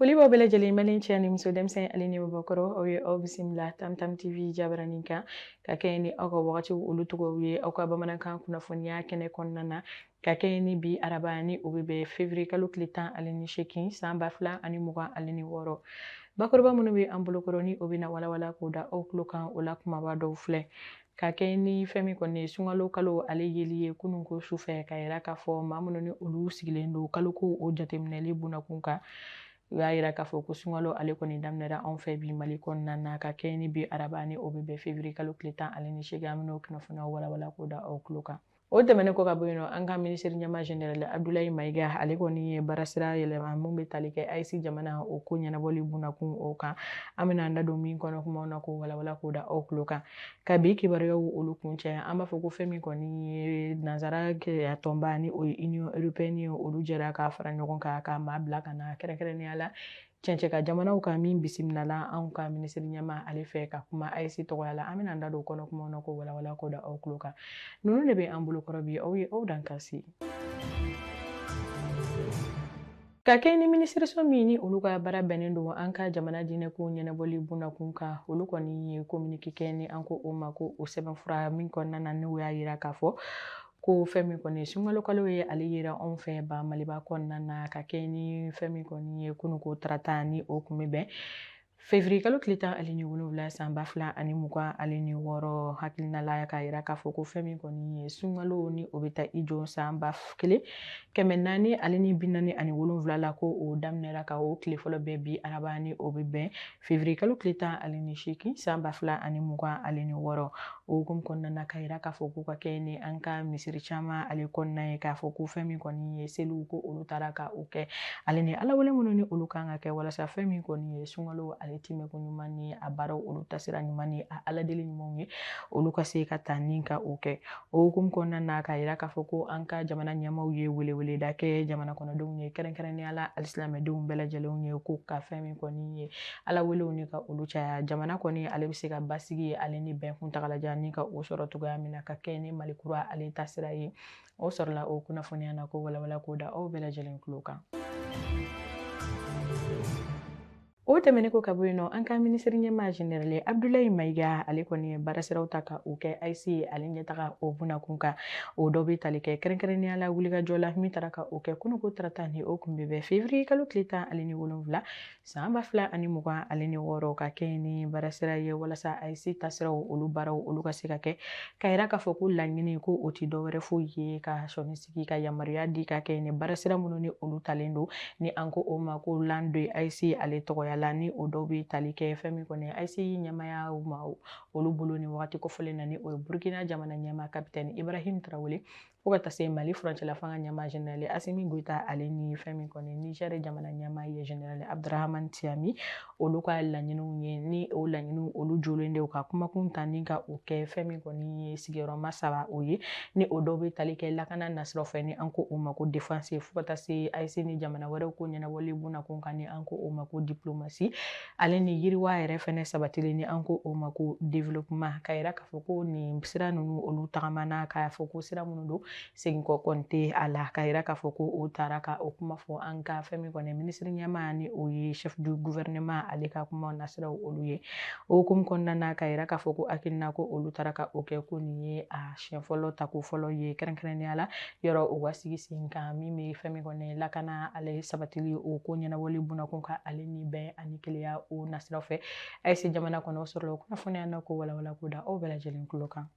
foli b'aw bɛɛ lajɛlen mali cɛ ni muso denmisɛn ale ni maabakɔrɔ aw ye aw bisimila tam tam tv jabaranin kan ka kɛɲɛ ni aw ka wagatiw olu tɔgɔw ye aw ka bamanankan kunnafoniya kɛnɛ kɔnɔna na ka kɛɲɛ ni bi araba ni o bɛ bɛn fevrier kalo tile tan ale ni seegin san ba fila ani mugan ale ni wɔɔrɔ bakuruba minnu bɛ an bolokɔrɔ ni o bɛna walawala k'o da aw tulo kan o la kumaba dɔw filɛ ka kɛɲɛ ni fɛn min kɔni ye sunkalo kalo ale yeli ye kunun ko su fɛ k'a yira k'a fɔ maa minnu ni olu sigilen don kalo ko o jateminɛli bunnakun kan u y'a yira k'a fɔ ko sunkalo ale kɔni daminɛra anw fɛ bi mali kɔnɔna na ka kɛɲɛ ni bi araba ni o bɛ bɛn fevrier kalo tile tan ale ni seegin an bɛn'o kunnafoniyaw walawala k'o da aw tulo kan o tɛmɛnen kɔ ka bɔ yen nɔ an ka minisiri ɲɛmaa general abdulayi mayiga ale kɔni ye baarasira yɛlɛma min bɛ tali kɛ ayisi jamana o ko ɲɛnabɔli bunakun o kan an bɛna an da don min kɔnɔ kumaw na k'o walawala k'o da aw tulo kan ka bi kibaruyaw olu kuncɛ an b'a fɔ ko fɛn min kɔni ye nansara kelenya tɔnba ni o ye union européenne ye olu jɛra ka fara ɲɔgɔn kan ka maa bila ka na kɛrɛnkɛrɛnnenya la cɛncɛ kan jamanaw kan min bisimilala anw ka minisiri ɲɛmaa ale fɛ ka kuma ayisi tɔgɔya la an bɛna an da don kɔnɔ kumaw na k'o walawala k'o da aw tulo kan ninnu de bɛ an bolokɔrɔ bi aw ye aw dan kasi Ka kɛɲɛ ni minisiriso min ni olu ka baara bɛnnen don an ka jamana diinɛko ɲɛnabɔli bundakun kan olu kɔni ye kominike kɛ ni an ko o ma ko o sɛbɛnfura min kɔnɔna na n'u y'a yira k'a fɔ ko fɛn min kɔni ye sunkalo kalo ye ale yera anw fɛ ba maliba kɔnɔna na ka kɛɲɛ ni fɛn min kɔni ye kununko tarata ni o kun bɛ bɛn fevrier kalo tile tan ale ni wolonwula san ba fila ani mugan ale ni wɔɔrɔ hakilina la k'a yira k'a fɔ ko fɛn min kɔni ye sunkalo ni o bɛ taa i jɔ san ba kelen kɛmɛ naani ale ni bi naani ani wolonwula la ko o daminɛra ka o tile fɔlɔ bɛn bi araba ni o bɛ bɛn Fevrier kalo tile tan ale ni seegin san ba fila ani mugan ale ni wɔɔrɔ o hukumu kɔnɔna na k'a yira k'a fɔ ko ka kɛɲɛ ni an ka misiri caman ale kɔnɔna ye k'a fɔ ko fɛn min kɔni ye seliw ko olu taara ka o kɛ ale ni alawale minnu ni olu kan ka kɛ walasa fɛn min kɔni ye sunkalo ale timɛko ɲuman ni a baaraw olu taasira ɲuman ni a aladeli ɲumanw ye olu ka se ka taa ni ka o kɛ O hukumu kɔnɔna na k'a yira k'a fɔ ko an ka jamana ɲɛmaaw ye weleweleda kɛ jamana kɔnɔdenw ye kɛrɛnkɛrɛnnenya la alisilamɛdenw bɛɛ lajɛlenw ye ko ka fɛn min kɔni ye ala welew ni ka olu caya jamana kɔni ale bɛ se ka basigi ye ale ni bɛn kuntagalajan ni ka o sɔrɔ cogoya min na ka kɛɲɛ ni mali kura ale taasira ye o sɔrɔla o kunnafoniya na k'o walawala k'o da aw bɛɛ lajɛlen tulo kan o tɛmɛnen kɔ ka bɔ yen nɔ an ka minisiri ɲɛma général abdulayi mayiga ale kɔni ye baarasiraw ta ka o kɛ AES ye ale ɲɛtaga o bunakun kan o dɔ bɛ tali kɛ kɛrɛnkɛrɛnnenya la wulikajɔ la min taara ka o kɛ kununko tarata ni o kun bɛ bɛn février kalo tile tan ale ni wolonwula san ba fila ani mugan ale ni wɔɔrɔ ka kɛ ni baarasira ye walasa AES tasiraw olu baaraw olu ka se ka kɛ k'a yira k'a fɔ ko laɲini ko o tɛ dɔwɛrɛ foyi ye ka sɔnni sigi ka yamaruya di ka kɛ ni baarasira minnu ni olu talen don ni an ko o ma ko l'an deux AES ale tɔgɔya la ni o dɔw bɛ tali kɛ fɛn min kɔni AES ɲɛmaya ma olu bolo nin wagati kofɔlen na ni o ye burukina jamana ɲɛma kapitɛni ibrahim tarawele fo ka taa se mali furancɛla fanga ɲɛma général asimi goyita ale ni fɛn min kɔni nizɛri jamana ɲɛma ye général abdurahamani tiyani olu ka laɲiniw ye ni o laɲiniw olu jɔlen de ka kumakun ta ni ka o kɛ fɛn min kɔni ye sigiyɔrɔma saba o ye ni o dɔw bɛ tali kɛ lakana nasiraw fɛ ni an ko o ma ko défense fo ka taa se AES ni jamana wɛrɛw ko ɲɛnabɔli bunakun kan ni an ko o ma ko diplomatie ale ni yiriwa yɛrɛ fɛnɛ sabatili ni an ko o ma ko développement ka yira k'a fɔ ko nin sira ninnu olu tagamana k'a fɔ ko sira minnu don segin kɔ kɔni tɛ a la k'a yira k'a fɔ ko o taara ka o kuma fɔ an ka fɛn min kɔni minisiri ɲɛma ni o ye chef du gouvernement ale ka kuma nasiraw olu ye o hukumu kɔnɔna na k'a yira k'a fɔ ko hakilina ko olu taara ka o kɛ ko nin ye a siɲɛ fɔlɔ tako fɔlɔ ye kɛrɛnkɛrɛnnenya la yɔrɔ u ka sigi sen kan min bɛ fɛn min kɔni lakana ale sabatili o ko ɲɛnabɔli bunakun kan ale ni bɛn ani kelenya o nasiraw fɛ AES jamana kɔnɔ o sɔrɔla o kunnafoniya na ko walawala k'o da aw bɛɛ lajɛlen tulo kan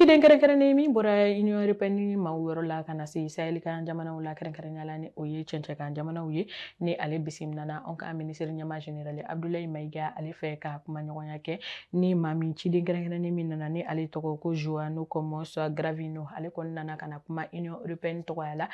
ciden kɛrɛnkɛrɛnnen min bɔra union européenne maaw yɔrɔ la ka na se sahɛli kan jamanaw la kɛrɛnkɛrɛnnenya la ni o ye cɛncɛn kan jamanaw ye ni ale bisimilana anw ka minisiri ɲɛma général abdulayi mayiga ale fɛ ka kumaɲɔgɔnya kɛ ni maa min ciden kɛrɛnkɛrɛnnen min nana ni ale tɔgɔ ko joão gomes cravinho ale kɔni nana ka na kuma union européenne tɔgɔya la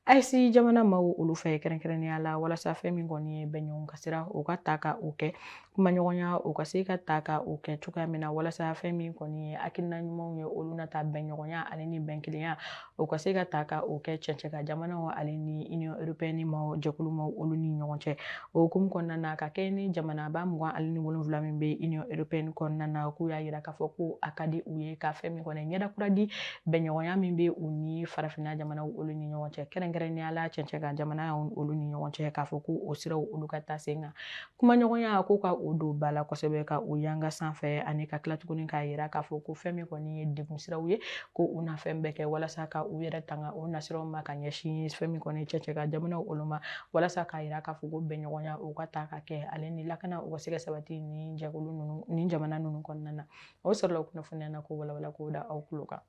AES jamana maaw olu fɛ kɛrɛnkɛrɛnnenya la walasa fɛn min kɔni ye bɛnɲɔgɔn ka sira o ka ta ka o kɛ kumaɲɔgɔnya o ka se ka ta ka o kɛ cogoya min na walasa fɛn min kɔni ye hakilina ɲumanw ye olu na ta bɛnɲɔgɔnya ale ni bɛnkelenya o ka se ka ta ka o kɛ cɛncɛn kan jamanaw ale ni union européenne ma jɛkulu ma olu ni ɲɔgɔn cɛ o hukumu kɔnɔna na ka kɛ ni jamanaba mugan ale ni wolonwula min bɛ union européenne kɔnɔna na k'u y'a yira k'a fɔ ko a ka di u ye ka fɛn min kɔni ɲɛda kura di bɛnɲɔgɔnya min bɛ u ni farafinna jamanaw olu ni ɲɔgɔn cɛ kɛrɛnkɛrɛnnenya la cɛncɛn kan jamana olu ni ɲɔgɔn cɛ k'a fɔ ko o siraw olu ka taa sen kan kumaɲɔgɔnya ko ka o don ba la kosɛbɛ ka o yanga sanfɛ ani ka tila tuguni k'a yira k'a fɔ ko fɛn min kɔni ye degun siraw ye ko u na fɛn bɛɛ kɛ walasa ka u yɛrɛ tanga o nasiraw ma ka ɲɛsin fɛn min kɔni cɛncɛn kan jamanaw olu ma walasa k'a yira k'a fɔ ko bɛnɲɔgɔnya o ka ta ka kɛ ale ni lakana u ka se ka sabati ni jɛkulu ninnu ni jamana ninnu kɔnɔna na o sɔrɔla kunnafoniya na ko walawala k'o da aw tulo kan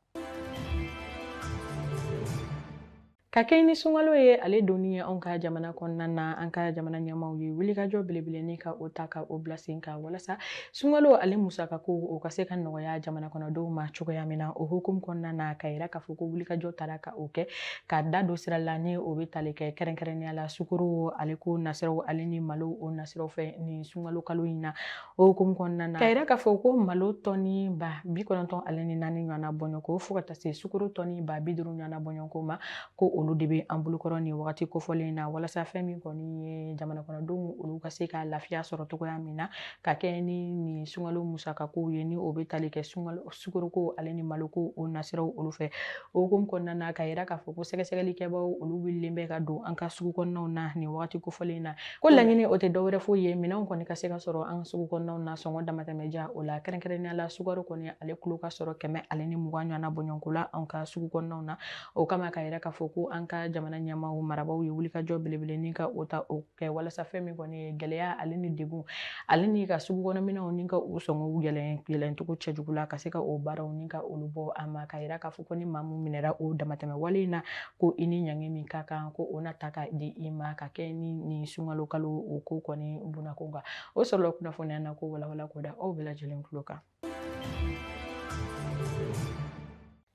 Ka kɛ ni sunkalo ye ale donni ye anw ka jamana kɔnɔna na an ka jamana ɲɛmaaw ye wulikajɔ belebele ni ka o ta ka o bila sen kan walasa sunkalo ale musakako o ka se ka nɔgɔya jamana kɔnɔdenw ma cogoya min na o hukumu kɔnɔna na ka yira k'a fɔ ko wulikajɔ tara ka o kɛ ka da don sira la ni o bɛ tali kɛ kɛrɛnkɛrɛnnenya la sukoro ale ko nasiraw ale ni malo o nasiraw fɛ nin sunkalo kalo in na o hukumu kɔnɔna na ka yira k'a fɔ ko malo tɔni ba bi kɔnɔntɔn ale ni naani ɲɔgɔnna bɔɲɔgɔnko fo ka taa se sukoro tɔni ba bi duuru ɲɔgɔnna bɔɲɔgɔnko ma ko olu de bɛ an bolokɔrɔ nin wagati kofɔlen na walasa fɛn min kɔni ye jamana kɔnɔdenw olu ka se ka lafiya sɔrɔ cogoya min na ka kɛ ni nin sunkalo musakakow ye ni o bɛ tali kɛ sunkalo sukoroko ale ni maloko o nasiraw olu fɛ o hukumu kɔnɔna na ka yira k'a fɔ ko sɛgɛsɛgɛlikɛbaaw olu wulilen bɛ ka don an ka sugu kɔnɔnaw na nin wagati kofɔlen na ko laɲini o tɛ dɔwɛrɛ foyi ye minɛnw kɔni ka se ka sɔrɔ an ka sugu kɔnɔnaw na sɔngɔ damatɛmɛja o la kɛrɛnkɛrɛnnenya la sukaro kɔni ale kilo ka sɔrɔ kɛmɛ ale ni mugan ɲɔgɔnna bɔɲɔgɔnko la an ka sugu kɔnɔnaw na o kama ka yira k'a fɔ ko an ka jamana ɲɛmaaw marabaw ye wulikajɔ belebele ni ka o ta o kɛ walasa fɛn min kɔni ye gɛlɛya ale ni degun ale ni ka sugu kɔnɔminɛnw ni ka u sɔngɔw yɛlɛn yɛlɛncogo cɛjugu la ka se ka o baaraw ni ka olu bɔ a ma ka yira k'a fɔ ko ni maa min minɛra o damatɛmɛ wale in na ko i ni ɲangi min ka kan ko o na ta ka di i ma ka kɛ ni nin sunkalo kalo o ko kɔni bunako kan o sɔrɔla kunnafoniya na k'o walawala k'o da aw bɛɛ lajɛlen tulo kan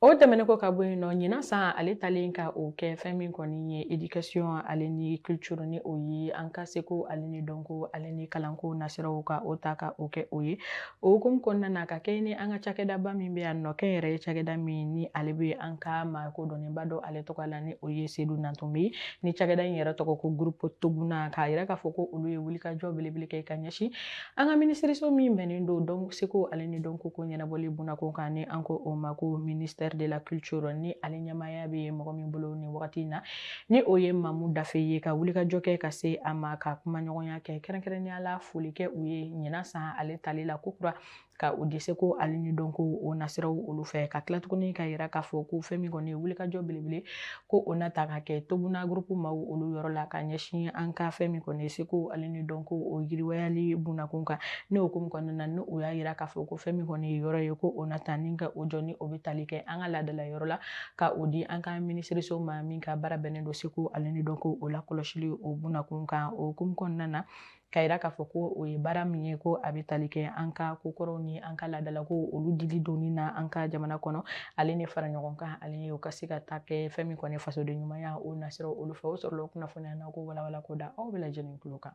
o tɛmɛnen kɔ ka bɔ yen nɔ ɲinan san ale talen ka o kɛ fɛn min kɔni ye edikasiyɔn ale ni kilituru ni o ye an ka seko ale ni dɔnko ale ni kalanko nasiraw ka o ta ka o kɛ o ye o hukumu kɔnɔna na ka kɛ ni an ka cakɛdaba min bɛ yan nɔ kɛnyɛrɛye cakɛda min ni ale bɛ an ka maa kodɔnnenba dɔ ale tɔgɔ la ni o ye sedu nantumɛ ni cakɛda in yɛrɛ tɔgɔ ko gurupu toguna ka yira k'a fɔ ko olu ye wulikajɔ belebele kɛ ka ɲɛsin An ka minisiriso min bɛnnen don seko ale ni dɔnko ko ɲɛnabɔli bunako kan ni an ko o ma ko ministère de la culture ni ale ɲɛmaaya bɛ mɔgɔ min bolo nin wagati in na ni o ye mamu dafe ye ka wulikajɔ kɛ ka se a ma ka kumaɲɔgɔnya kɛ kɛrɛnkɛrɛnnenya la foli kɛ u ye ɲinan san ale tali la kokura ka o di seko ale ni dɔnko o nasiraw olu fɛ ka tila tuguni ka yira k'a fɔ ko fɛn min kɔni ye wulikajɔ belebele ko o na ta ka kɛ toguna gurupu maaw olu yɔrɔ la ka ɲɛsin an ka fɛn min kɔni ye seko ale ni dɔnko o yiriwayali bunakun kan ne o hukumu kɔnɔna na ni o y'a yira k'a fɔ ko fɛn min kɔni ye yɔrɔ ye ko o na ta ni ka o jɔ ni o bɛ tali kɛ an ka laadala yɔrɔ la ka o di an ka minisiriso ma min ka baara bɛnnen don seko ale ni dɔnko o lakɔlɔsili o bunakun kan o hukumu kɔnɔna na ka yira k'a fɔ ko o ye baara min ye ko a bɛ tali kɛ an ka kokɔrɔw ni an ka laadalako olu dili donni na an ka jamana kɔnɔ ale ni faraɲɔgɔnkan ale ni o ka se ka ta kɛ fɛn min kɔni ye fasodenɲumanya o nasira olu fɛ o sɔrɔla o kunnafoniya na k'o walawala k'o da aw bɛɛ lajɛlen tulo kan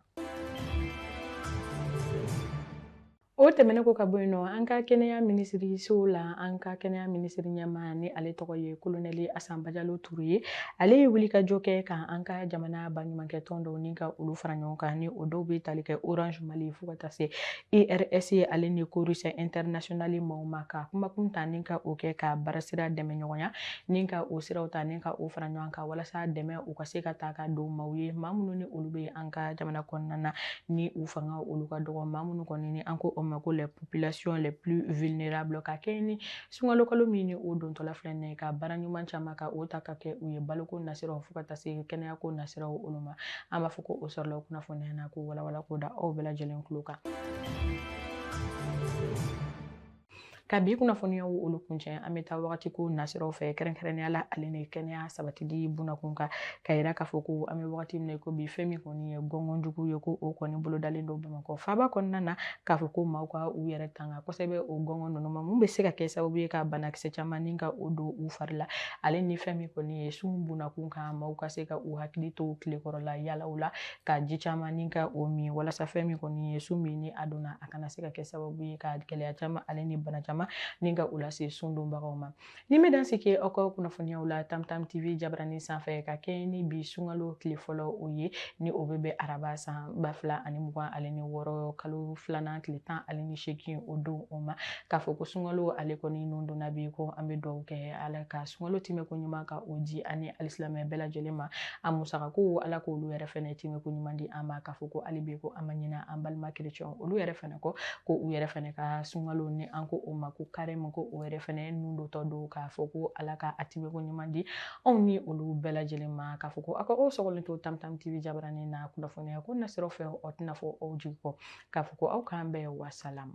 O tɛmɛnen kɔ ka bɔ yen nɔ an ka kɛnɛya minisiriso la an ka kɛnɛya minisiri ɲɛmaa ni ale tɔgɔ ye kolonɛli Asa Bajalo Ture ye ale ye wulikajɔ kɛ ka an ka jamana baɲumankɛ tɔn dɔw ni ka olu fara ɲɔgɔn kan ni o dɔw bɛ tali kɛ orange mali fo ka taa se IRS ye ale ni Corus International maaw ma ka kumakun ta ni ka o kɛ ka baarasira dɛmɛ ɲɔgɔnya ni ka o siraw ta ni ka o fara ɲɔgɔn kan walasa dɛmɛw ka se ka taa ka don maaw ye maa minnu ni olu bɛ an ka jamana kɔnɔna na ni u fangaw olu ka dɔgɔ maa minnu kɔni ni an ko o ma ko la population la plus vulnérable ka kɛ ni sunkalo kalo min ni o dontɔ filɛ nin ye ka baara ɲuman caman ka o ta ka kɛ u ye baloko nasiraw fo ka taa se kɛnɛyako nasiraw olu ma an b'a fɔ ko o sɔrɔla o kunnafoniya na k'o walawala k'o da aw bɛɛ lajɛlen tulo kan ka bi kunnafoniyaw olu kuncɛ an bɛ taa wagati ko nasiraw fɛ kɛrɛnkɛrɛnnenya la ale ni kɛnɛya sabatili bunakun kan ka yira k'a fɔ ko an bɛ wagati min na ko bi fɛn min kɔni ye gɔngɔnjugu ye ko o kɔni bolodalen don bamakɔ faaba kɔnɔna na k'a fɔ ko maaw ka u yɛrɛ tanga kosɛbɛ o gɔngɔn ninnu ma mun bɛ se ka kɛ sababu ye ka banakisɛ caman ni ka o don u fari la ale ni fɛn min kɔni ye sun bunakun kan maaw ka se ka u hakili to tilekɔrɔla yaalaw la ka ji caman ni ka o min walasa fɛn min kɔni ye sun min ni a donna a kana se ka kɛ sababu ye ka gɛlɛya caman ale ni bana caman ni ka u lase sun donbagaw ma nin bɛ dan sigi aw ka kunnafoniyaw la tamtam tv jabarani sanfɛ ka kɛ ni bi sunkalo tile fɔlɔ o ye ni o bɛ bɛn araba san ba fila ani mugan ale ni wɔɔrɔ kalo filanan tile tan ale ni seegin o don o ma k'a fɔ ko sunkalo ale kɔni nun donna bi ko an bɛ dugawu kɛ ala ka sunkalo timɛko ɲuman ka o di an ni alisilamɛ bɛɛ lajɛlen ma a musaka ko ala k'olu yɛrɛ fana timɛko ɲuman di an ma kan k'a fɔ ko hali bi ko an ma ɲina an balima kerecɛnw olu yɛrɛ fana kɔ ko u yɛrɛ fana ka sunkalo ni an ko o ma ko karɛmu ko o yɛrɛ fana nun dontɔ don k'a fɔ ko ala ka a timɛko ɲuman di anw ni olu bɛɛ lajɛlen ma k'a fɔ ko aw ka o sɔgɔlen to tamtam tv jabaranin na kunnafoniya ko nasiraw fɛ o tɛna fɔ aw jigi kɔ k'a fɔ ko aw k'an bɛn wasalamu